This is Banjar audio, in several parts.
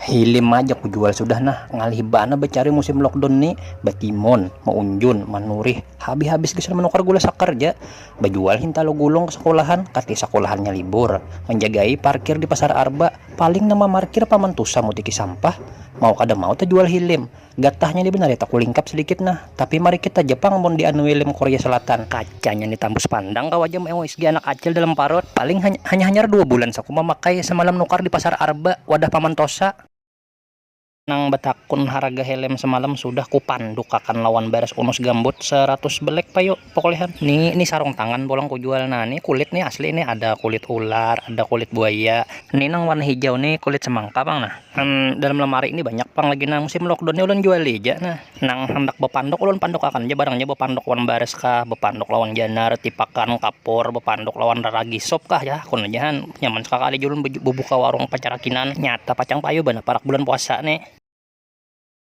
Hilim aja kujual sudah nah, ngalih banar bacari musim lockdown ni, batimun, maunjun, manurih, habis-habis gasan manukar gula sakar ja, bajual hintalu gulung ka sakulahan, kati sakulahannya libur, manjagai parkir di pasar arba, paling nang mamarkir paman tusa mutiki sampah, mau kada mau tajual hilim. Gatahnya ni banar ya takulingkap sadikit nah. Tapi mari kita ja pang mun dianui lem Korea Selatan. Kacanya ni tambus pandang kawa ja meoisgi anak acil dalam parut. Paling hanya hanyar dua bulan saku mamakai, semalam nukar di pasar Arba, wadah paman Tosa. Nang batakun haraga helem semalam sudah kupandukakan lawan baras unus gambut saratus belek payu. Pokok lihat nih, ini sarung tangan pulang ku jual. Nah, ini kulit nih asli nih ada kulit ular, ada kulit buaya. Ini nang warna hijau nih kulit semangka pang nah. Hmm, dalam lemari ini banyak pang lagi nah musim lockdown nih ulun jual aja nah. Nang handak bepanduk ulun panduk akan aja barangnya bepanduk lawan baris kah, bepanduk lawan janar, tipakan, kapur, bepanduk lawan raragi sop kah ya hakun aja han. Nyaman sakakali jua ulun bebuka warung pacarakinan. Nyata pacang payu banar parak bulan puasa nih.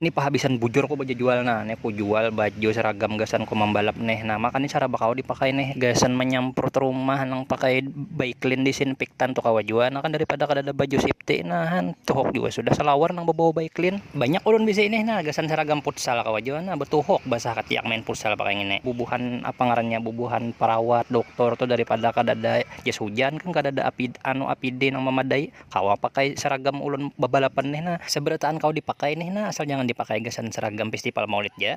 Ni pahabisan bujur ko bajajual nah, ne ko jual baju seragam gasan ko mambalap neh, nah maka ni saraba kawa dipakai neh gasan manyamprut rumah nang pakai baiklin disinpiktan tu kawa jua nah kan daripada kadada baju sipti nah han tuhuk jua sudah salawar nang babawa baiklin banyak ulun bisi nih nah gasan saragam putsal kawa jua nah batuhuk basah katiak main putsal pakai ngini bubuhan apa ngarannya bubuhan parawat doktor tu daripada kadada jas hujan kan kadada apd anu apd nang mamadai. Kawa pakai seragam ulun babalapan nih nah. Seberataan kawa dipakai nih nah, asal jangan dipakai gasan seragam fistipal maulid ja.